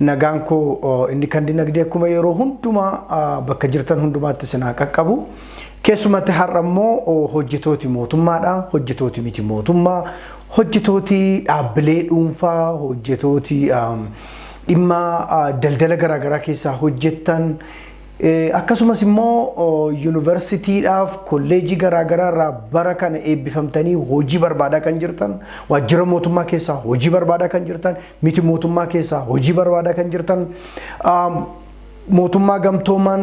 Nagaan koo inni kan dinagdee akkuma yeroo hundumaa bakka jirtan hundumaatti isin haa qaqqabu. Keessumatti har'a immoo hojjetooti mootummaadha. Hojjetooti miti mootummaa. Hojjetooti dhaabbilee dhuunfaa, hojjetooti dhimma daldala garaagaraa keessaa hojjettan akkasumas immoo yuunivarsiitiidhaaf kolleejii garaagaraa irraa bara kana eebbifamtanii hojii barbaadaa kan jirtan waajjira mootummaa keessaa hojii barbaadaa kan jirtan miti mootummaa keessaa hojii barbaadaa kan jirtan mootummaa gamtoomaan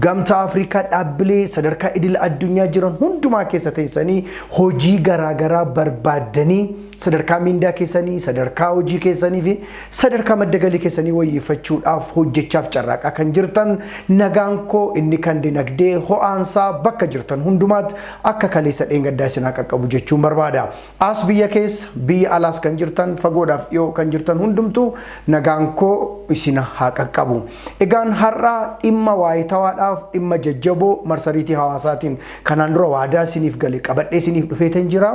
gamtaa Afrikaa dhaabbilee sadarkaa idil addunyaa jiran hundumaa keessa teessanii hojii garaagaraa barbaaddanii sadarkaa miindaa keessanii sadarkaa hojii keessanii fi sadarkaa madda galii keessanii wayyeeffachuudhaaf hojjechaaf carraaqaa kan jirtan nagaan koo inni kan dinagdee ho'aansaa bakka jirtan hundumaatti akka kaleessa dheengaddaa isin haa qaqqabu jechuun barbaada. As biyya keessa, biyya alaas kan jirtan, fagoodhaaf dhiyoo kan jirtan hundumtuu nagaan koo isina haa qaqqabu. Egaan har'a dhimma waayitawaadhaaf dhimma jajjaboo marsariitii hawaasaatiin kanaan dura waadaa isiniif gale qabadhee isiniif dhufeetan jira.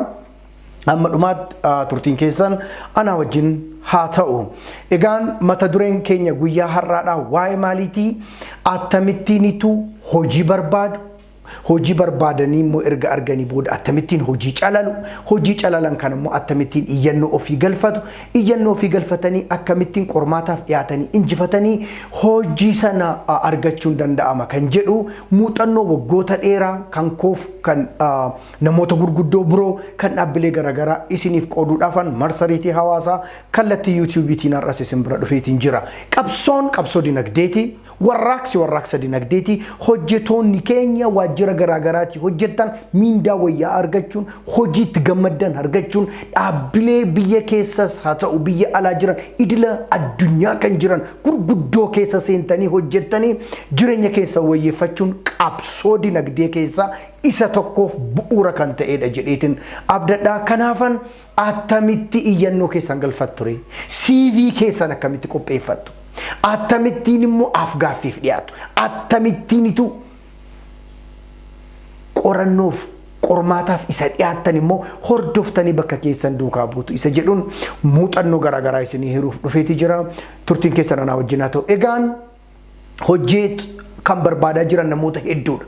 Amma dhumaatti turtiin keessan anaa wajjin haa ta'u. Egaan mata dureen keenya guyyaa har'aadhaa waa'ee maaliitii? Attamittiinitu hojii barbaadu? Hojii barbaadanii immoo erga arganii booda attamittiin hojii calalu, hojii calalan kana immoo attamittiin iyyannoo ofii galfatu, iyyannoo ofii galfatanii akkamittiin qormaataaf dhiyaatanii injifatanii hojii sana argachuun danda'ama kan jedhu muuxannoo waggoota dheeraa kan koof kan namoota gurguddoo biroo kan dhaabbilee garaagaraa isiniif qooduudhaafan marsariitii hawaasaa kallattii yuutiyuubiitiin har'as isin bira dhufeetiin jira. Qabsoon qabsoo dinagdeeti. Warraaqsi warraaqsa dinagdeeti. Hojjetoonni keenya waajjira garaagaraatii hojjettan miindaa wayyaa argachuun, hojiitti gammaddan argachuun, dhaabbilee biyya keessas haa ta'u biyya alaa jiran idila addunyaa kan jiran gurguddoo keessa seentanii hojjettanii jireenya keessan wayyeeffachuun qabsoo dinagdee keessaa isa tokkoof bu'uura kan ta'eedha jedheetin abdadha. Kanaafan Attamitti iyyannoo keessan galfattu ree? CV keessan akkamitti qopheeffattu? Attamittiin immoo afgaaffiif dhiyaatu? Attamittiinitu qorannoof qormaataaf isa dhiyaattan immoo hordoftanii bakka keessan duukaa buutu isa jedhuun muuxannoo garaagaraa isinii hiruuf dhufeeti jira. Turtiin keessan anaa wajjin haa ta'u. Egaan hojii kan barbaadaa jiran namoota hedduudha.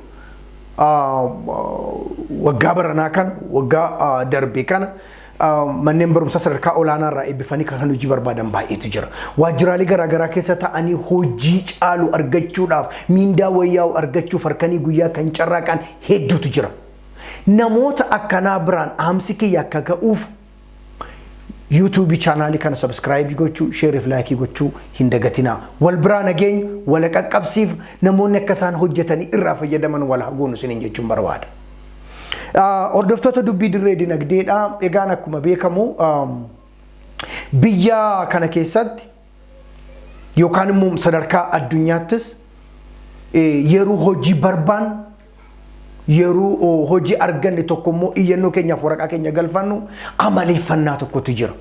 Waggaa baranaa kana waggaa darbe kana manneen barumsaa sadarkaa olaanaa irraa eebbifanii kan hojii barbaadan baay'eetu jira. Waajjiraalee garaagaraa keessa ta'anii hojii caalu argachuudhaaf miindaa wayyaa'u argachuuf harkanii guyyaa kan carraaqan hedduutu jira. Namoota akkanaa biraan dhaamsi kiyya akka ga'uuf YouTube chaanaalii kana subscribe gochuu, share fi like gochuu hin dagatinaa. Wal biraa nageenya wal qaqqabsiif namoonni akka isaan hojjetanii irraa fayyadaman wal haguunu isiniin jechuun barbaada. Hordoftoota dubbii dirree dinagdeedha. Egaan akkuma beekamu biyya kana keessatti yookaan immoo sadarkaa addunyaattis yeroo hojii barbaan Yeroo hojii arganne tokko immoo iyyannoo keenyaaf waraqaa keenya galfannu amaleeffannaa tokkotu jira.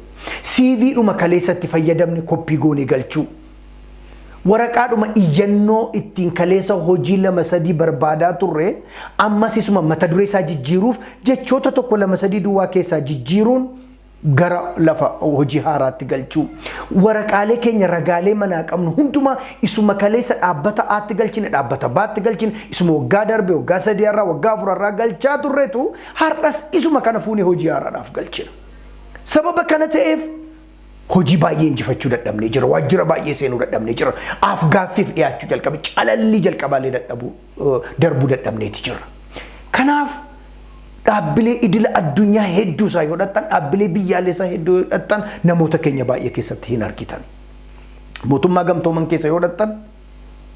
CV dhuma kaleessatti fayyadamne koppii goonee galchuu. Waraqaadhuma iyyannoo ittiin kaleessa hojii lama sadii barbaadaa turre ammas isuma mata duree isaa jijjiiruuf jechoota tokko lama sadii duwwaa keessaa jijjiiruun gara lafa hojii haaraatti galchuu waraqaalee keenya ragaalee manaa qabnu hundumaa isuma kaleessa dhaabbata aatti galchine dhaabbata baatti galchine isuma waggaa darbe waggaa sadii har'aa waggaa afur har'aa galchaa turretu har'as isuma kana fuunee hojii haaraadhaaf galchina. Sababa kana ta'eef hojii baay'ee injifachuu dadhabnee jira waajjira baay'ee seenuu dadhabnee jira af gaaffiif dhiyaachuu jalqabe calallii jalqabaalee dadhabuu darbuu dadhabneeti jirra. Kanaaf dhaabbilee idila addunyaa hedduu isaa yoo dhaqxan, dhaabbilee biyyaalessaa hedduu yoo dhaqxan namoota keenya baay'ee keessatti hin argitan. Mootummaa gamtooman keessa yoo dhaqxan,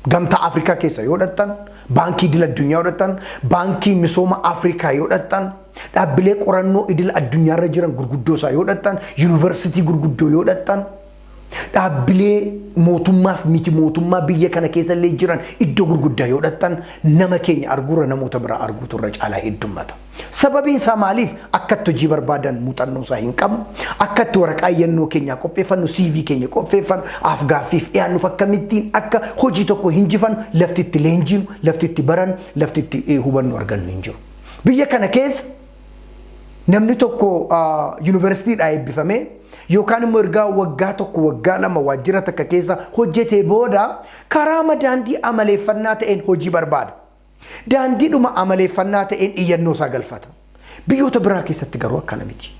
gamtaa Afrikaa keessa yoo dhaqxan, baankii idila addunyaa yoo dhaqxan, baankii misooma Afrikaa yoo dhaqxan, dhaabbilee qorannoo idila addunyaarra jiran gurguddoo isaa yoo dhaqxan, yuunivarsiitii gurguddoo yoo dhaqxan, Dhaabbilee mootummaaf miti mootummaa biyya kana keessa illee jiran iddoo gurguddaa yoo dhaqxan nama keenya arguurra namoota biraa arguutu irra caalaa heddummata. Sababiin isaa maaliif akka itti hojii barbaadan muuxannoo isaa hin qabnu, akka itti waraqaa iyyannoo keenyaa qopheeffannu, CV keenya qopheeffannu, afgaaffiif dhiyaannuuf akkamittiin akka hojii tokko hinjifannu lafti itti leenjiinu, lafti itti barannu, lafti itti hubannu argannu hin jiru. Biyya kana keessa namni tokko yuunivarsiitiidhaa eebbifamee yookaan immoo ergaa waggaa tokko waggaa lama waajjira takka keessa hojjetee booda karaama daandii amaleeffannaa ta'een hojii barbaada. Daandiidhuma amaleeffannaa ta'een iyyannoo isaa galfata. Biyyoota biraa keessatti garuu akkana miti.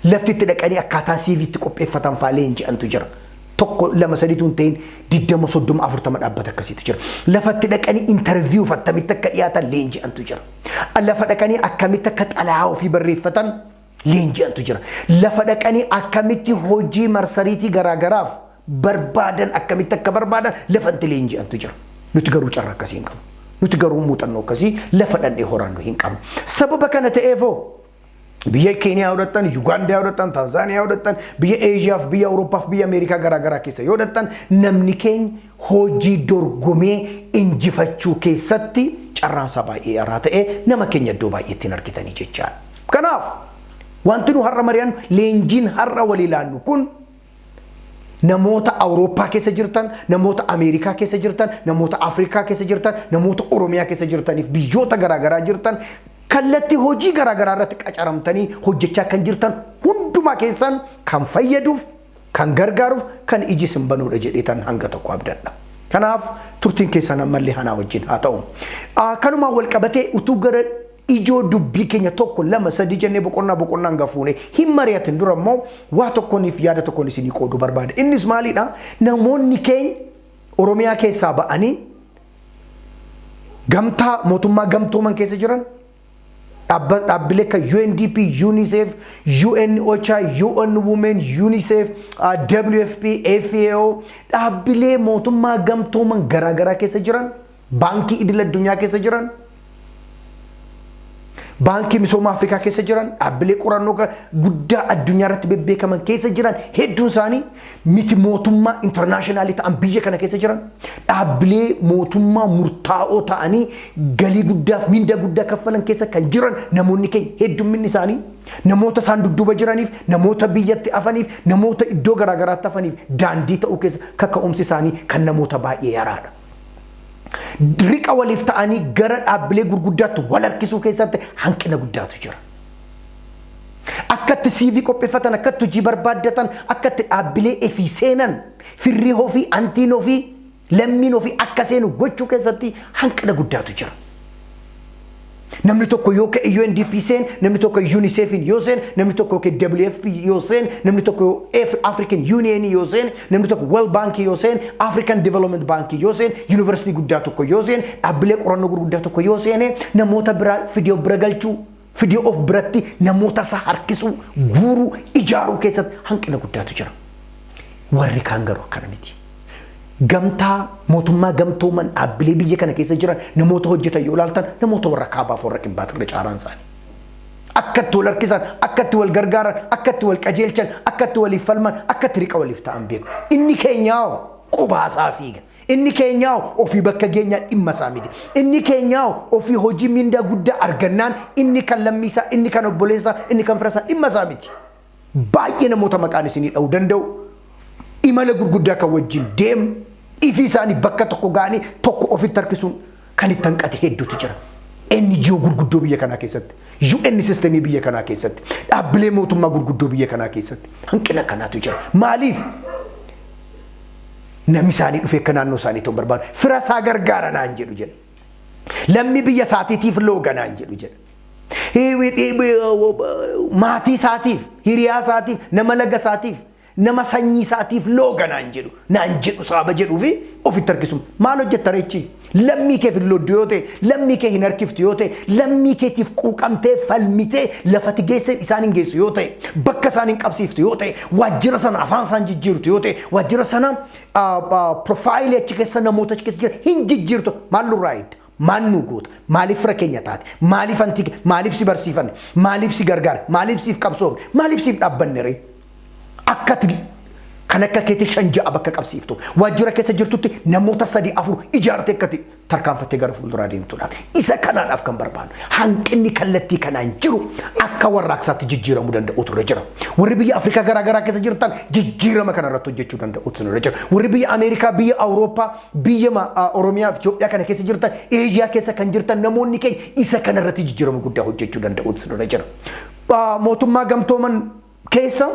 Lafti itti dhaqanii akkaataa CV itti qopheeffatan fa'aa leenji'antu jira. Tokko lama sadiitu hin ta'in digdama soddoma afurtama dhaabbata akkasiitu jira. Lafatti dhaqanii intarviiyuuf attamitti akka dhiyaatan leenji'antu jira. Lafa dhaqanii akkamitti akka xalayaa ofii barreeffatan leenji'antu jira. Lafa dhaqanii akkamitti hojii marsariitii garaagaraaf barbaadan akkamitti akka barbaadan lafatti leenji'antu jira. Nuti garuu carra akkasii hin qabnu. Nuti garuu muuxannoo akkasii lafa dhannee horannu hin qabnu. Sababa kana ta'eefoo Biyya Keeniyaa yoo dhaqxan, Yugaandaa yoo dhaqxan, Taanzaaniyaa yoo dhaqxan, biyya Eeshiyaa fi biyya Awurooppaa fi biyya Ameerikaa garaa garaa keessa yoo dhaqxan namni keenya hojii dorgomee injifachuu keessatti carraan isaa baay'ee araa ta'ee nama keenya iddoo baay'eetti hin argitanii jechaadha. Kanaaf wanti nu har'a mari'annu leenjiin har'a walii laannu kun Namoota Awurooppaa keessa jirtan, namoota Ameerikaa keessa jirtan, namoota Afrikaa keessa jirtan, namoota Oromiyaa keessa jirtaniif biyyoota garaagaraa jirtan kallattii hojii garaagaraa irratti qacaramtanii hojjechaa kan jirtan hundumaa keessan kan fayyaduuf, kan gargaaruuf, kan iji isin banuudha jedheetan hanga tokko abdadha. Kanaaf turtiin keessan ammallee hanaa wajjin haa ta'u. Kanumaan wal qabatee utuu gara ijoo dubbii keenya tokko lama sadii jennee boqonnaa boqonnaan gafuune hin mari'atin dura immoo waa tokkoniif yaada tokkon isinii qoodu barbaada. Innis maaliidha namoonni keenya Oromiyaa keessaa ba'anii gamtaa mootummaa gamtooman keessa jiran dhaabbilee akka UNDP, UNICEF, UN OCHA, UN Women, UNICEF, WFP, FAO dhaabbilee mootummaa gamtooman garaagaraa keessa jiran baankii idil addunyaa keessa jiran, baankii misooma Afrikaa keessa jiran, dhaabbilee qorannoo ga- guddaa addunyaa irratti bebbeekaman keessa jiran hedduun isaanii miti mootummaa intarnaashinaalii ta'an biyya kana keessa jiran dhaabbilee mootummaa murtaa'oo ta'anii galii guddaaf mindaa guddaa kaffalan keessa kan jiran namoonni keenya heddumminni isaanii namoota isaan dudduuba jiraniif namoota biyyatti afaniif namoota iddoo garaagaraatti afaniif daandii ta'uu keessa kaka'umsi isaanii kan namoota baay'ee yaraadha. riqa waliif ta'anii gara dhaabbilee gurguddaatti wal harkisuu keessatti hanqina guddaatu jira. Akkatti CV qopheeffatan, akkatti hojii barbaaddatan, akkatti dhaabbilee efii seenan, firrii ofii, antiin ofii, lammiin ofii akka seenu gochuu keessatti hanqina guddaatu jira. Namni tokko yoo ka'e UNDP seen, namni tokko UNICEFin yoo seen, namni tokko yookiin WFP yoo seen, namni tokko yoo Af- African Union yoo seen, namni tokko World Bank yoo seen, African Development Bank yoo seen, University guddaa tokko yoo seen, dhaabbilee qorannoo gurguddaa tokko yoo seene, namoota biraa fidee of bira galchuu Fidee of biratti namoota isaa harkisuu, guuruu, ijaaruu keessatti hanqina guddaatu jira. Warri kaan garuu akkana miti. Gamtaa mootummaa gamtooman dhaabbilee biyya kana keessa jiran namoota hojjetan yoo ilaaltan namoota warra kaabaaf warra kibbaatu irra caaraan isaanii. Akka itti wal harkisan, akka itti wal gargaaran, akka itti wal qajeelchan, akka itti waliif falman, akka itti riqa waliif ta'an beeku. Inni keenyaa hoo qubaasaa fiiga. Inni keenyaa ofii bakka geenyaa dhimma isaa miti. Inni keenyaa ofii hojii mindaa guddaa argannaan inni kan lammii isaa, inni kan obboleessa isaa, inni kan fira isaa dhimma isaa miti. Baay'ee namoota maqaan isinii dha'uu danda'u imala gurguddaa kan wajjin deemnu ifii isaanii bakka tokko ga'anii tokko ofitti harkisuun kan itti hanqate hedduutu jira. NGO gurguddoo biyya kanaa keessatti, UN sistemii biyya kanaa keessatti, dhaabbilee mootummaa gurguddoo biyya kanaa keessatti hanqina kanaatu jira. Maaliif? Namni isaanii dhufee akka naannoo isaanii ta'u barbaadu. Fira isaa gargaara naan jedhu jedha. Lammii biyya isaatiitiif looga naan jedhu jedha. Maatii isaatiif, hiriyaa isaatiif, nama laga isaatiif Nama sanyii isaatiif looga naan jedhu, naan jedhu saaba jedhuu fi ofitti harkisu. Maal hojjetta ree ichi? Lammii keef hin looddu yoo ta'e, lammii kee hin harkiftu yoo ta'e, lammii keetiif quuqamtee, falmitee, lafa ati geesseen isaan hin geessu yoo ta'e, bakka isaan hin qabsiiftu yoo ta'e, waajjira sana afaan isaa hin jijjiirtu yoo ta'e, waajjira sana profaayilii achi keessa namoota achi keessa jiran hin jijjiirtu. Maal nurraa eegda? Maal nuu goota? Maaliif fira keenya taate? Maaliif anti ke- maaliif si barsiifanne? Maaliif si gargaare? Maaliif siif qabsoofne? Maaliif siif dhaabbanne ree? Akka ati kan akka keetii shan ja'a bakka qabsiiftu waajjira keessa jirtutti namoota sadii afur ijaartee akka ati tarkaanfattee gara fuulduraa deemtuudhaaf isa kanaadhaaf kan barbaadu hanqinni kallattii kanaan jiru akka warraaqsaatti jijjiiramuu danda'utu irra jira warri biyya Afrikaa garaa garaa keessa jirtan jijjiirama kana irratti hojjechuu danda'utu irra jira warri biyya Ameerikaa biyya Awurooppaa Biyya ma, a Oromiyaa fi Itoophiyaa kana keessa jirtan, Asia keessa kan jirtan namoonni keenya isa kana irratti jijjiirama guddaa hojjechuu danda'uutu isinirra jira. A Mootummaa Gamtooman keessa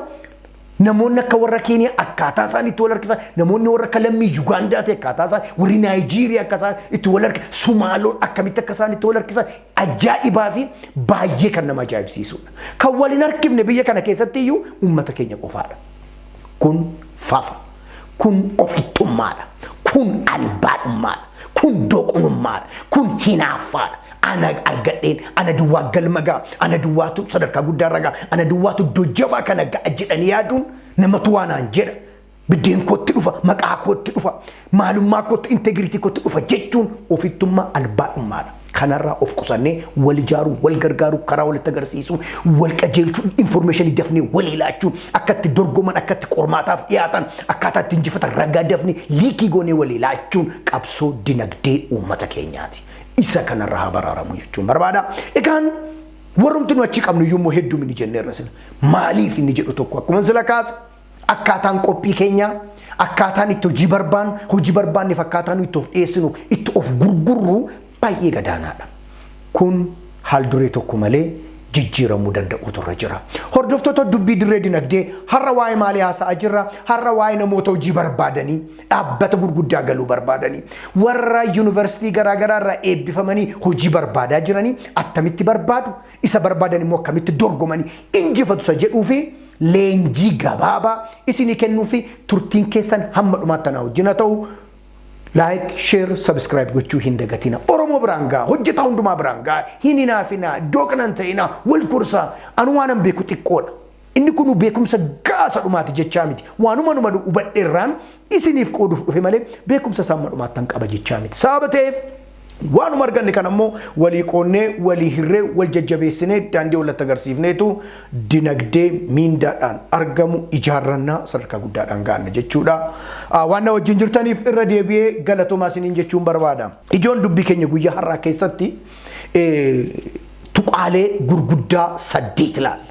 namoonni akka warra Keeniyaa akkaataa isaan itti wal harkisan, namoonni warra akka lammii Yugaandaa ta'e akkaataa isaan, warri Naayijiiriyaa akka isaan itti wal harkisan, Sumaaloon akkamitti akka isaan itti wal harkisan ajaa'ibaa fi baay'ee kan nama ajaa'ibsiisudha. Kan wal hin harkifne biyya kana keessatti iyyuu uummata keenya qofaadha. Kun fafa. Kun ofittummaadha. Kun albaadhummaadha. Kun doqnummaadha. Kun hinaaffaadha. Ana argadheen, ana duwwaa galma ga'a, ana duwwaatu sadarkaa guddaa irra ga'a, ana duwwaatu iddoo jabaa kana ga'a jedhanii yaaduun namatu waanaan jedha. Biddeen kootti dhufa, maqaa kootti dhufa, maalummaa kootti, integiritii kootti dhufa jechuun ofittummaa albaadhummaadha. Kanarraa of qusannee wal ijaaruu, wal gargaaruu, karaa walitti agarsiisuu, wal qajeelchuu, informeeshinii dafnee walii laachuu, akka itti dorgoman, akka itti qormaataaf dhiyaatan, akkaataa itti injifatan ragaa dafnee liikii goonee walii laachuun qabsoo dinagdee uummata keenyaati. Isa kanarraa haa baraaramu jechuun barbaada. Egaan warrumti nu achi qabnu iyyuu immoo hedduu mini jenneerra sila. Maaliif inni jedhu tokko akkuma sila kaase Akkaataan qophii keenyaa, akkaataan itti hojii barbaannu, hojii barbaanne fakkaataa nu itti of dhiyeessinu, itti of gurgurru baay'ee gadaanaadha. Kun haal duree tokko malee jijjiiramuu danda'uutu irra jira. Hordoftoota dubbii dirree dinagdee har'a waa'ee maalii haasa'aa jirra? Har'a waa'ee namoota hojii barbaadanii dhaabbata gurguddaa galuu barbaadanii warra yuunivarsiitii garaagaraa irraa eebbifamanii hojii barbaadaa jiranii attamitti barbaadu? isa barbaadan immoo akkamitti dorgomanii injifatu isa jedhuu fi leenjii gabaabaa isinii kennuu fi turtiin keessan hamma dhumaatti anaa wajjin haa ta'u like share subscribe gochuu hin dagatina oromoo biraan gaa hojjetaa hundumaa biraan gaa hin hinaafinaa doqnan ta'inaa wal gorsaa anu waanan beeku xiqqoodha Inni kunuu beekumsa ga'aa isa dhumaati jechaa miti. Waanuma numa hubadhe irraan isiniif qooduuf dhufe malee beekumsa isaa amma dhumaattan qaba jechaa miti. Sababa ta'eef waanuma arganne kana immoo walii qoonnee, walii hirree, wal jajjabeessinee, daandii wallatti agarsiifneetu dinagdee miindaadhaan argamu ijaarrannaa sadarkaa guddaadhaan gaanna jechuudha. Waan na wajjin jirtaniif irra deebi'ee galatoomaa isiniin jechuun barbaada. Ijoon dubbii keenya guyyaa har'aa keessatti tuqaalee gurguddaa saddeet ilaalla.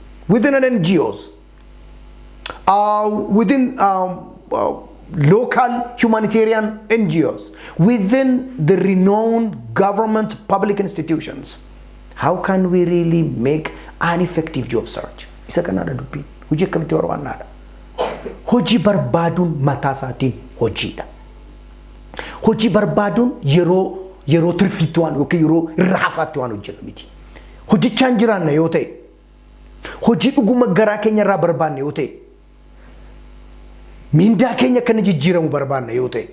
within an NGOs, uh, within um, uh, local humanitarian NGOs, within the renowned government public institutions. How can we really make an effective job search? Isa kanaadha dubbiin. Hojii akkamitti barbaannaadha? Hojii barbaaduun mataa isaatiin hojiidha. Hojii barbaaduun yeroo yeroo tirfiitti waan yookiin yeroo irra hafaatti waan hojjennu miti. Hojjechaan jiraanna yoo ta'e, hojii dhuguma garaa keenya irraa barbaanne yoo ta'e, miindaa keenya akka inni jijjiiramu barbaanna yoo ta'e,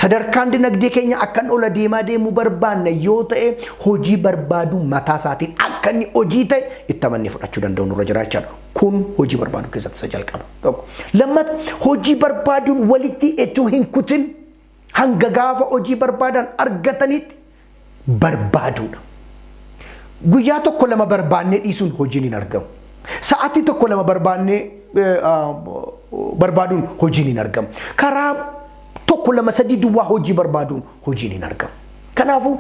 sadarkaan dinagdee keenya akka inni ol adeemaa deemu barbaanna yoo ta'e, hojii barbaaduu mataa isaatiin akka inni hojii ta'e itti amannee fudhachuu danda'u nurra jira jechaadha. Kun hojii barbaaduu keessatti isa jalqaba. Tokko. Lammata hojii barbaaduun walitti echuu hin kutin Hanga gaafa hojii barbaadan argataniitti barbaaduudha. Guyyaa tokko lama barbaannee dhiisuun hojiin hin argamu. Sa'aatii tokko lama barbaannee barbaaduun hojiin hin argamu. Karaa tokko lama sadii duwwaa hojii barbaaduun hojiin hin argamu. Kanaafuu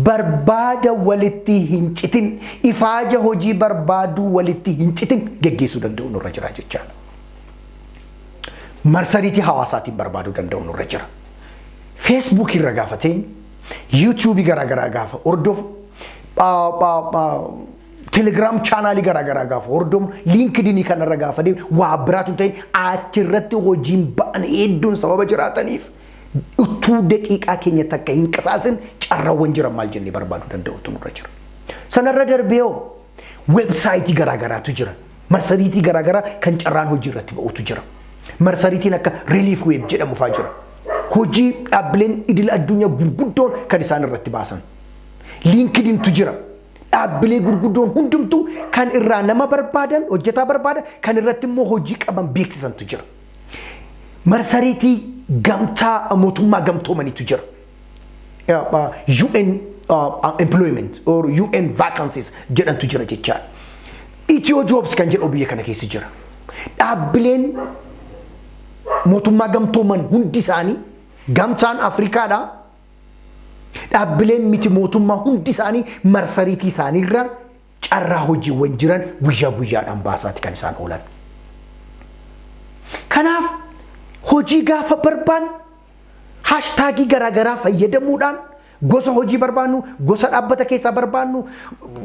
barbaada walitti hin citin ifaaja hojii barbaaduu walitti hin citin geggeessuu danda'u nurra jira jechaadha. marsariitii hawaasaatiin barbaaduu danda'u nurra jira. Feesbuukii irra gaafa ta'in, yuutuubii garaa garaa gaafa hordofu, telegiraam chaanaalii garaa garaa gaafa hordofu, liinkidinii kanarra gaafa deemu waa biraatu hin ta'in achirratti hojiin ba'an hedduun sababa jiraataniif utuu daqiiqaa keenya takka hin qisaasin carraawwan jiran maal jennee barbaaduu danda'utu nurra jira. Sanarra darbee hoo Websaayitii garaa garaatu jira. Marsariitii garaa garaa kan carraan hojii irratti ba'utu jira. Marsariitiin akka Relief Web jedhamu fa'aa jira. Hojii dhaabbileen idil addunyaa gurguddoon kan isaan irratti baasan. Liinkidintu jira. Dhaabbilee gurguddoon hundumtuu kan irraa nama barbaadan, hojjetaa barbaadan, kan irratti immoo hojii qaban beeksisantu jira. Marsariitii gamtaa mootummaa gamtoomanitu jira. UN employment or UN vacancies jedhantu jira jechaa. Itiyoo Jobs kan jedhu biyya kana keessa jira. Dhaabbileen mootummaa gamtooman hundi isaanii gamtaan Afrikaadha. Dhaabbileen miti mootummaa hundi isaanii marsariitii isaaniirra carraa hojiiwwan jiran guyyaa guyyaadhaan baasaati kan isaan oolan. Kanaaf hojii gaafa barbaanne Haashtaagii garaagaraa fayyadamuudhaan gosa hojii barbaannu, gosa dhaabbata keessaa barbaannu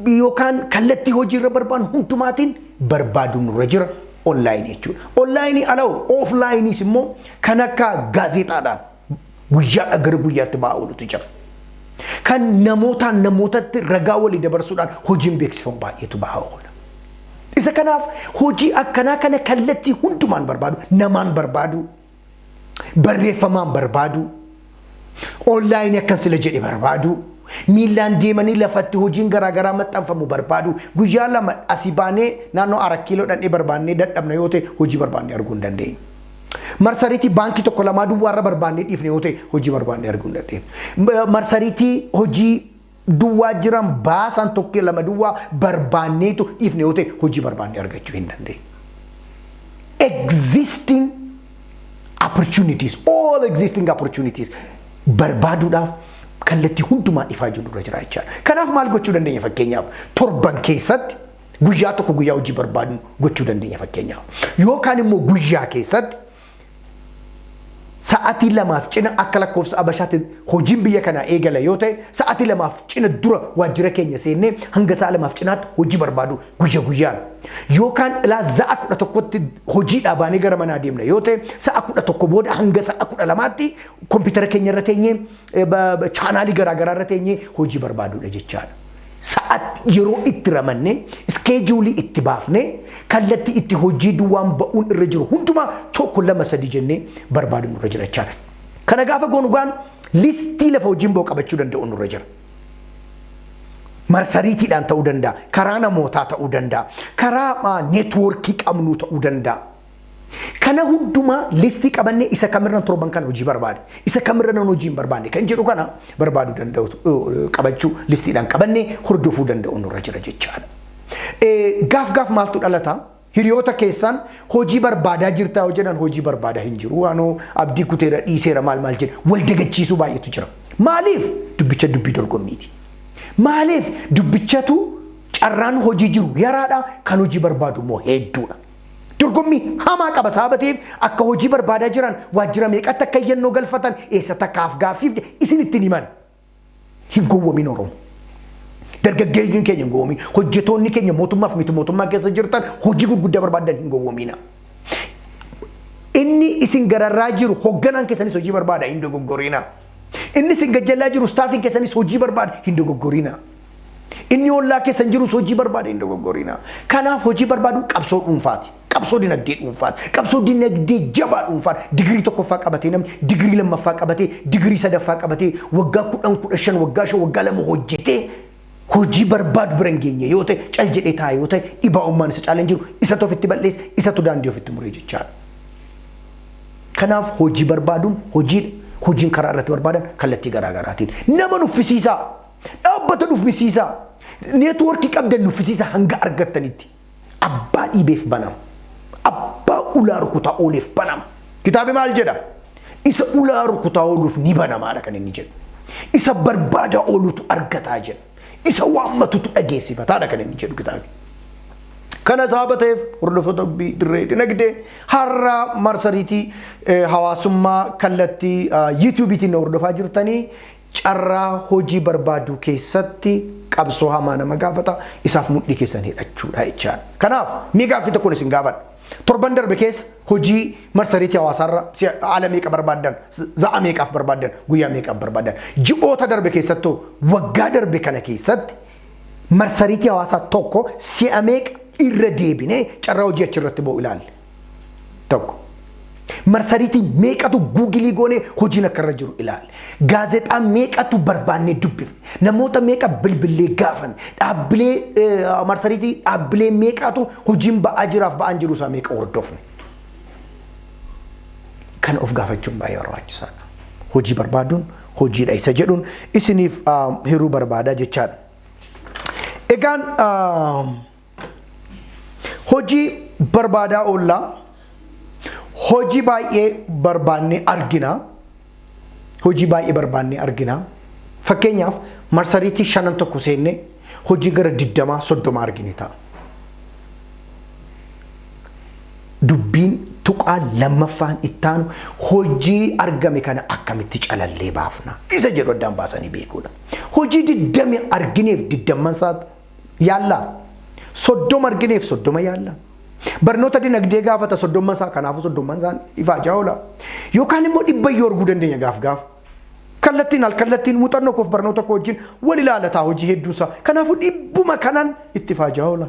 yookaan kallattii hojii irra barbaannu hundumaatiin barbaaduun nurra jira onlaayinii jechuudha. Onlaayinii ala ooflaayiniis immoo kan akka gaazexaadhaan guyyaadhaa gara guyyaatti ba'aa oolutu jira. Kan namootaan namootatti ragaa walii dabarsuudhaan hojiin beeksifamu baay'eetu ba'aa oola. Isa kanaaf hojii akkanaa kana kallattii hundumaan barbaadu, namaan barbaadu, barreeffamaan barbaaduu, onlaayinii akkan sila jedhe barbaaduu, miillaan deemanii lafatti hojiin garaagaraa maxxanfamu barbaaduu, guyyaa lama asii baanee naannoo arak kiiloo dhandhee barbaannee dadhabna yoo ta'e hojii barbaannee arguu hin dandeenyu. Marsariitii baankii tokko lamaa duwwaarra barbaannee dhiifne yoo ta'e hojii barbaannee arguu hin dandeenyu. Marsariitii hojii duwwaa jiran baasaan tokkee lama duwwaa barbaanneetu dhiifne yoo ta'e hojii barbaannee argachuu hin dandeenye. Existing opportunities, all existing opportunities barbaaduudhaaf kallattii hundumaa ifaa jiru irra jira jechaadha. Kanaaf maal gochuu dandeenya fakkeenyaaf torban keessatti guyyaa tokko guyyaa hojii barbaadnu gochuu dandeenya fakkeenyaaf. Yookaan immoo guyyaa keessatti sa'atii lamaaf cina akka lakkoofsa Abashaatti hojiin biyya kanaa eegala yoo ta'e sa'atii lamaaf cina dura waajjira keenya seennee hanga sa'a lamaaf cinaatti hojii barbaadu guyya guyyaan. Yookaan ilaa za'a kudha tokkotti hojiidhaa baanee gara manaa deemna yoo ta'e sa'a kudha tokko booda hanga sa'a kudha lamaatti kompiitara keenya irra teenyee chaanaalii garaagaraa irra teenyee hojii barbaadudha jechaadha. sa'atti yeroo itti ramannee iskeejuulii itti baafnee kallattii itti hojii duwwaan ba'uun irra jiru hundumaa tokko lama sadii jennee barbaadu nurra jira jechaadha. Kana gaafa goonu gaan listii lafa hojiin ba'u qabachuu danda'u nurra jira. Marsariitiidhaan ta'uu danda'a, karaa namootaa ta'uu danda'a, karaa neetwoorkii qabnuu ta'uu danda'a. Kana hundumaa listii qabannee isa kamirran torban kana hojii barbaade, isa kamirra nan hojii hin barbaanne kan jedhu kana barbaaduu danda'u eh, qabachuu listiidhaan qabannee hordofuu danda'u nurra jira jechaadha. Eh, Gaaf gaaf maaltu dhalata? Hiriyoota keessaan hojii barbaadaa jirtaa yoo jedhan hojii barbaadaa hin jiru waanoo abdii kuteera dhiiseera maal maal jedha wal dagachiisuu baay'eetu jira. Maaliif? Dubbicha dubbii dorgommiiti. Maaliif? Dubbichatu carraan hojii jiru yaraadha kan hojii barbaadu immoo hedduudha. Dorgommii hamaa qaba sababa ta'eef akka hojii barbaadaa jiran waajjira meeqatti akka iyyannoo galfatan eessatti akka afgaaffiif isin ittiin himan. Hin gowwomin Oromo. Dargaggeeyyiin keenya hin gowwomin. Hojjetoonni keenya mootummaaf miti mootummaa keessa jirtan hojii gurguddaa barbaadan hin gowwomina. Inni isin gararraa jiru hogganaan keessanis hojii barbaada hin dogoggorina. Inni isin gajjallaa jiru staafiin keessanis hojii barbaada hin dogoggorina. Inni ollaa keessan jirus hojii barbaada hin dogoggorinaa. Kanaaf hojii barbaadu qabsoo dhuunfaati. Qabsoo dinagdee dhuunfaati. Qabsoo dinagdee jabaa dhuunfaan digirii tokkoffaa qabatee namni digirii lammaffaa qabatee digirii sadaffaa qabatee waggaa kudhan kudha shan waggaa shan waggaa lama hojjetee hojii barbaadu bira hin geenye yoo ta'e cal jedhee taa'e yoo ta'e dhibaa'ummaan isa caalaan jiru isatu ofitti bal'eessa isatu daandii ofitti muree jechaadha. Kanaaf hojii barbaaduun hojiidha. Hojiin karaa irratti barbaadan kallattii garaagaraatiin nama nuffisiisaa. Dhaabbata dhufisiisaa. Neetwoorkii qabdan nuffisiisa hanga argattanitti. Abbaa dhiibeef banama. Abbaa ulaa rukutaa ooleef banama. Kitaabi maal jedha? Isa ulaa rukutaa ooluuf ni banamaadha kan inni jedhu. Isa barbaadaa oolutu argataa jedha. Isa waammatutu dhageessifataadha kan inni jedhu kitaabi. Kana sababa ta'eef hordoftoota dubbii dirree dinagdee har'a marsariitii hawaasummaa kallattii yuutuubiitiin na hordofaa jirtanii Carraa hojii barbaaduu keessatti qabsoo hamaa nama gaafata. Isaaf mudhii keessan hidhachuudha jechaan. Kanaaf mee gaaffii tokkon isin gaafadha. Torban darbe keessa hojii marsariitii hawaasaarra si'a haala meeqa barbaaddan? Za'a meeqaaf barbaaddan? Guyyaa meeqaaf barbaaddan? Ji'oota darbe keessattoo waggaa darbe kana keessatti marsariitii hawaasaa tokko si'a meeqa irra deebinee carraa hojii achirratti ba'u ilaalle? tokko. Marsariitii meeqatu guugilii goonee hojiin akka irra jiru ilaali. Gaazexaa meeqatu barbaannee dubbifne. Namoota meeqa bilbillee gaafan. Dhaabbilee eh, marsariitii dhaabbilee meeqatu hojiin ba'aa jiraaf ba'aan jiru isaa meeqa hordofne. Kana of gaafachuun baay'ee barbaachisaadha. Hojii barbaaduun hojiidha isa jedhuun isiniif ah, hiruu barbaadaa jechaadha. Egaan ah, Hojii barbaadaa oolla. Hojii baay'ee barbaannee argina. Hojii baay'ee barbaannee argina. Fakkeenyaaf marsariitii shanan tokko seenne hojii gara digdamaa soddoma argine ta'a. Dubbiin tuqaa lammaffaan ittaanu hojii argame kana akkamitti calallee baafna isa jedhu addaan baasanii beekuudha. Hojii digdami argineef digdamman isaa yaallaa. Soddoma argineef soddoma yaalla. Barnoota dinagdee gaafata soddomma isaa kanaafuu soddomman isaan ifaajaa oola. Yookaan immoo dhibba iyyuu arguu dandeenya gaaf gaaf. Kallattiin al kallattiin muuxannoo koof barnoota koo wajjin wal ilaalataa hojii hedduu isaa. Kanaafuu dhibbuma kanan itti ifaajaa oola.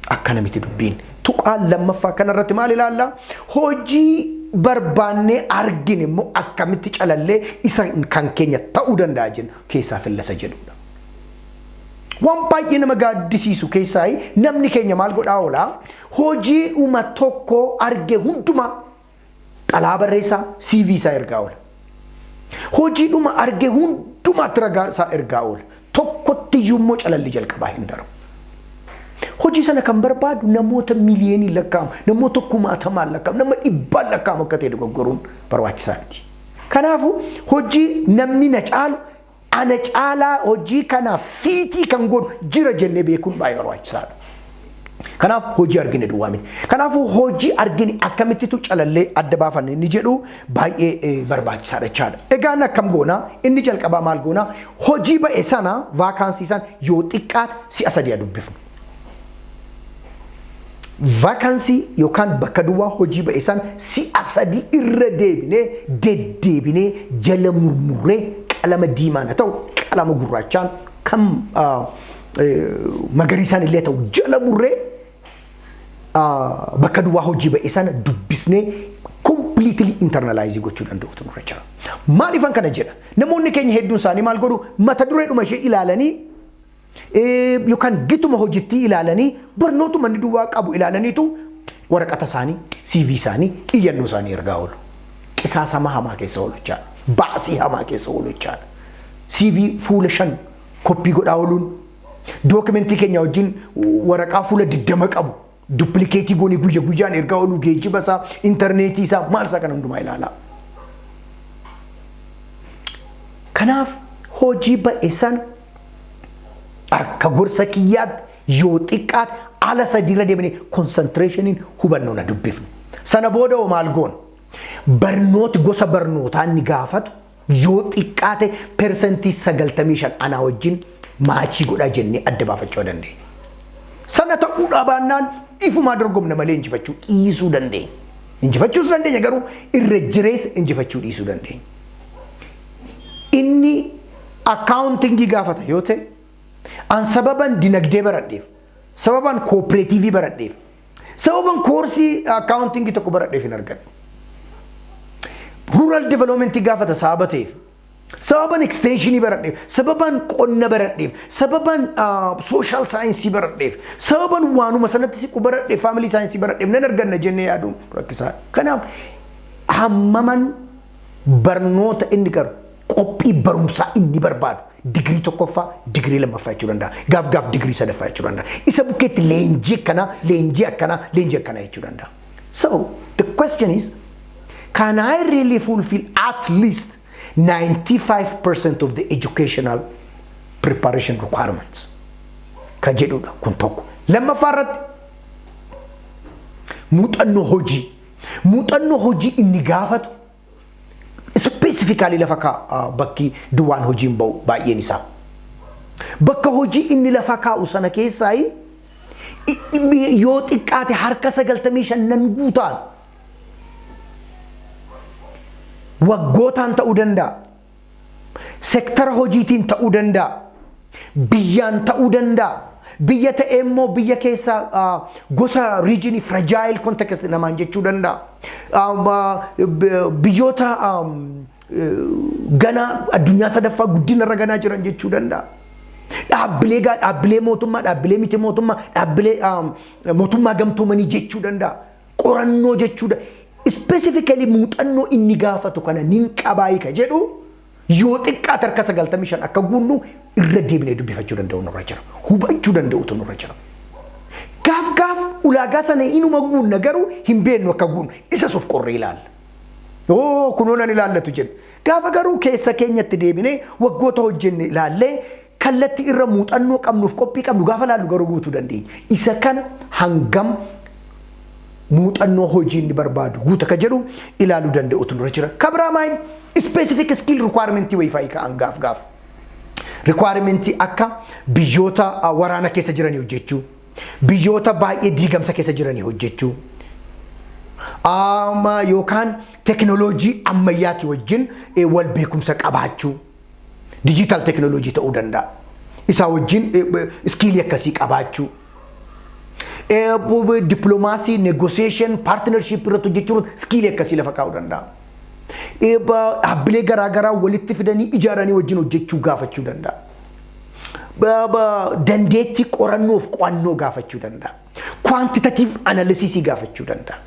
Akkana miti dubbiin. Tuqaan lammaffaa kanarratti maal ilaalla? Hojii barbaannee argine immoo akkamitti calallee isa kan keenya ta'uu danda'a jennu keessaa fillasa jedhudha. Waan baay'ee nama gaaddisiisu keessaa namni keenya maal godhaa oola? Hojiidhuma tokko arge hundumaa xalaa barreessaa CV isaa ergaa oola. Hojiidhuma arge hundumaatti ragaa isaa ergaa oola. Tokkotti iyyuu immoo calalli jalqabaa hin darbu. Hojii sana kan barbaadu namoota miliyoonii lakkaa'amu, namoota kumaatamaan lakkaa'amu, nama dhibbaan lakkaa'amu akka ta'e dogoggoruun barbaachisaa miti. Kanaafuu hojii namni na caalu ana caalaa hojii kanaaf fiitii kan godhu jira jennee beekuun baay'ee barbaachisaadha. Kanaaf hojii argine duwwaa miti. Kanaafuu hojii argine akkamittitu calallee adda baafanne inni jedhu baay'ee barbaachisaadha jechaadha. Egaa inni akkam goona? Inni jalqabaa maal goona? Hojii ba'e sana vaakaansii sana yoo xiqqaate si'a sadii haa dubbifnu. vaakansii yookaan bakka duwwaa hojii ba'e san si'a sadii irra deebinee deddeebinee jala murmurree qalama diimaan haa ta'u qalama gurraachaan kan ah, eh, magariisaan illee haa ta'u jala murree ah, bakka duwwaa hojii ba'e sana dubbisnee completely internalize gochuu danda'utu nurra jira. Maaliifan kana jedha? Namoonni keenya hedduun isaanii maal godhu? Mata dureedhuma ishee ilaalanii yookaan gituma hojittii ilaalanii barnootuma inni duwwaa qabu ilaalaniitu waraqata isaanii, CV isaanii, iyyannoo isaanii ergaa oolu. Qisaasama hamaa keessa oolchaa, baasii hamaa keessa oolchaa. CV fuula shan koppii godhaa ooluun dookimentii keenya wajjin waraqaa fuula digdama qabu Duppilikeetii goonee guyya guyyaan ergaa ooluu geejjiba isaa, intarneetii isaa, maal isaa kana hundumaa ilaalaa. Kanaaf hojii ba'e sana akka gorsa kiyyaatti yoo xiqqaate ala sadiirra deemnee konsantireeshiniin hubannoo na dubbifnu. Sana booda hoo maal goona? Barnooti gosa barnootaa inni gaafatu yoo xiqqaate persentii 95 anaa wajjin maachii godhaa jennee adda baafachuu dandeenya. Sana ta'uu dhabaannaan ifumaa dorgomna malee injifachuu dhiisuu dandeenya. Injifachuus dandeenya garuu irra jireessa injifachuu dhiisuu dandeenya. Inni akkaawuntingii gaafata yoo ta'e an sababan dinagdee baradheef Sababan koopireetiivii baradheef. Sababan koorsii akkaawuntiingii tokko baradheef hin argadhu. Ruural developmentii gaafata sababa ta'eef. Sababan eksteenshinii baradheef. Sababan qonna baradheef. Sababan sooshaal saayinsii baradheef. Sababan waanuma sanatti siqu baradheef faamilii saayinsii baradheef nan arganna jennee yaaduun rakkisaa. Kanaaf hammaman barnoota inni garu qophii barumsaa inni barbaadu Digirii tokkoffaa, digirii lammaffaa jechuu danda'a. Gaaf gaaf digirii sadaffaa jechuu danda'a. Isa bukkeetti leenjii akkanaa, leenjii akkanaa, leenjii akkanaa jechuu danda'a. So, the question is, can I really fulfill at least 95% of the educational preparation requirements? Ka jedhudha kun tokko. Lammaffaa irratti muuxannoo hojii. Muuxannoo hojii inni gaafatu ispeesifikaalii lafa kaa'a bakki duwwaan hojiin ba'u baay'een isaa. Bakka hojii inni lafa kaa'u sana keessaa yoo xiqqaate harka 95 nan guutaan waggootaan ta'uu danda'a. sektara hojiitiin ta'uu danda'a. Biyyaan ta'uu danda'a. Biyya ta'ee immoo biyya keessa gosa riijinii firajaayil kontekst namaan jechuu danda'a. Biyyoota ganaa addunyaa sadaffaa guddina irra ganaa jiran jechuu danda'a. Dhaabbilee gaa dhaabbilee mootummaa, dhaabbilee miti mootummaa, dhaabbilee mootummaa gamtoomanii jechuu danda'a. qorannoo jechuu da specifically muuxannoo inni gaafatu kana nin qabaayi ka jedhu yoo xiqqaate harka 95 akka guunnu irra deebinee dubbifachuu danda'u nurra jira. Hubachuu danda'utu nurra jira. Gaaf gaaf ulaagaa sana inuma guunna garuu hin beennu akka guunnu isas of qorree ilaalla. Oo kunoo nan ilaallatu jenna. Gaafa garuu keessa keenyatti deebinee waggoota hojjenne ilaallee Kallatti irra muuxannoo qabnuuf qophii qabnu gaafa laallu garuu guutuu dandeenya. Isa kana hangam muuxannoo hojii inni barbaadu guuta ka jedhu ilaaluu danda'utu nurra jira. Ka biraa maayin specific skill requirement wayii fa'i ka'an gaaf gaaf. Requirement akka biyyoota ah, waraana keessa jiranii hojjechuu, biyyoota baay'ee diigamsa keessa jiranii hojjechuu, ama yookaan teknooloojii ammayyaati wajjin eh, wal beekumsa qabaachuu. dijiitaal teekinooloojii ta'uu danda'a. Isaa wajjin iskiilii akkasii qabaachuu. Dippiloomaasii, negoosheeshin, paartinarshiippii irratti hojjechuun iskiilii akkasii lafa kaa'uu danda'a. Dhaabbilee garaagaraa walitti fidanii ijaaranii wajjin hojjechuu gaafachuu danda'a. Dandeettii qorannoof qo'annoo gaafachuu danda'a. Kwaantitatiiv analisiisii gaafachuu danda'a.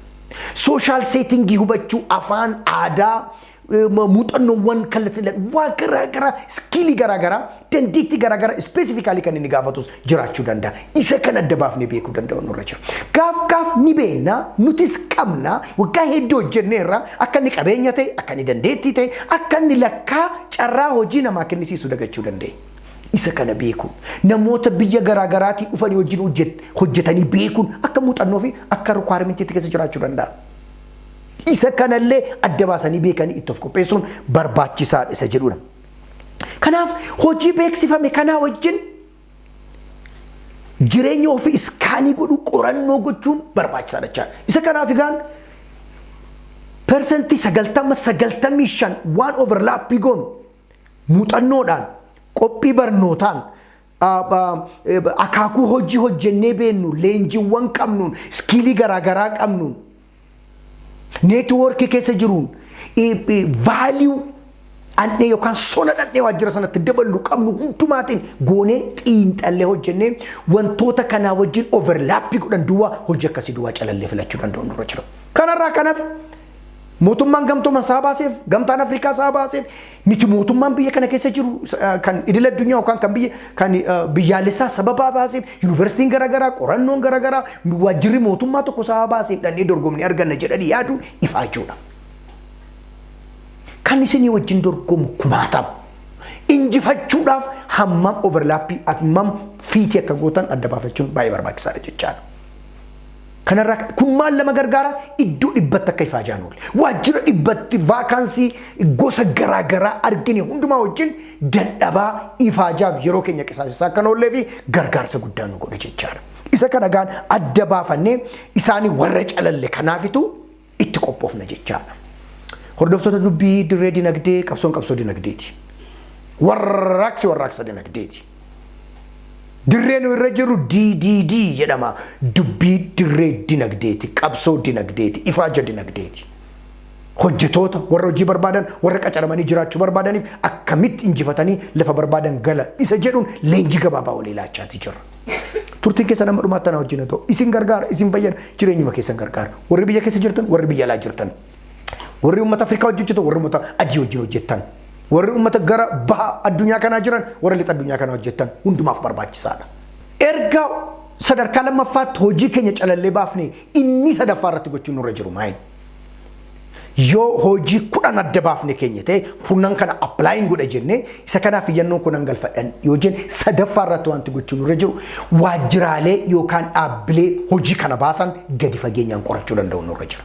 Sooshaal seetingii hubachuu afaan aadaa muuxannoowwan kallattiidhaan waan garaa garaa iskiilii garaa garaa dandeettii garaa garaa ispeesifikaalii kan inni gaafatus jiraachuu danda'a. Isa kan adda baafnee beekuu danda'u nurra jira. Gaaf gaaf ni beekna nutis qabna waggaa hedduu hojjennee irraa akka inni qabeenya ta'e akka inni dandeettii ta'e akka inni lakkaa carraa hojii namaa kennisiisu dagachuu dandeenya. Isa kana beekuun namoota biyya garaa garaatii dhufanii wajjin hojjetanii beekuun akka muuxannoo fi akka rukwaarmentiitti keessa jiraachuu danda'a. Isa kanallee adda baasanii beekanii itti of qopheessuun barbaachisaadha isa jedhudha. Kanaaf hojii beeksifame kanaa wajjin jireenya ofii iskaanii godhuu qorannoo gochuun barbaachisaadha jechaadha. Isa kanaaf egaan persentii sagaltama sagaltamii shan waan overlaappii goonu muuxannoodhaan qophii barnootaan akaakuu hojii hojjennee beennu leenjiiwwan qabnuun iskiilii garaagaraa qabnuun neetwoorkii keessa jiruun vaaliyuu dhandhee yookaan sona dhandhee waajjira sanatti daballu qabnu hundumaatiin goonee xiinxallee hojjennee wantoota kanaa wajjin overlaappii godhan duwwaa hojii akkasii duwwaa calallee filachuu danda'u nurra jira. Kanarraa kanaaf Mootummaan gamtooman isaa baaseef, gamtaan Afrikaa isaa baaseef, miti mootummaan biyya kana keessa jiru kan idil addunyaa yookaan kan biyya kan biyyaalessaa sababaa baaseef, yuunivarsiitiin garaagaraa, qorannoon garaagaraa, waajjirri mootummaa tokko isaa baaseef dhannee dorgomnee arganna jedhanii yaadu ifaachuudha. Kan isinii wajjin dorgomu kumaatama. Injifachuudhaaf hammam overlaappii hammam fiitii akka gootan adda baafachuun baay'ee barbaachisaadha jechaadha. Kanarraa ka- kun maal nama gargaara? Iddoo dhibbatti akka ifaajaan oole. Waajjira dhibbatti vaakaansii gosa garaa garaa argine hundumaa wajjin dadhabaa ifaajaaf yeroo keenya qisaasisaa akka hin oollee fi gargaarsa guddaa nu godhe jechaadha. Isa kana gaan adda baafannee isaanii warra calalle kanaafitu itti qophoofna jechaadha. Hordoftoota dubbii dirree dinagdee qabsoon qabsoo dinagdeeti. Warraaqsi warraaqsa dinagdeeti. Dirree nu irra jiru DDD jedhama. Dubbii dirree dinagdeeti, qabsoo dinagdeeti, ifaaja dinagdeeti. Hojjetoota warra hojii barbaadan, warra qacaramanii jiraachuu barbaadaniif akkamitti injifatanii lafa barbaadan gala isa jedhuun leenjii gabaabaa walii laachaa jirra. Turtiin keessan hamma dhumaatti anaa wajjin haa ta'u. Isin gargaara, isin fayyada, jireenyuma keessan gargaara. Warri biyya keessa jirtan, warri biyya alaa jirtan. Warri uummata Afrikaa wajjin hojjetan, warri uummata adii wajjin hojjetan. Warri uummata gara baha addunyaa kanaa jiran, warra lixa addunyaa kanaa hojjetan hundumaaf barbaachisaadha. Erga sadarkaa lammaffaatti hojii keenya calallee baafne inni sadaffaa irratti gochuun nurra jiru maayini. Yoo hojii kudhan adda baafne keenya ta'e kurnan kana applying godha jenne isa kanaaf iyyannoo kunan galfadhan yoo jenne sadaffaa irratti wanti gochuun irra jiru waajjiraalee yookaan dhaabbilee hojii kana baasan gadi fageenyaan qorachuu danda'u nurra jira.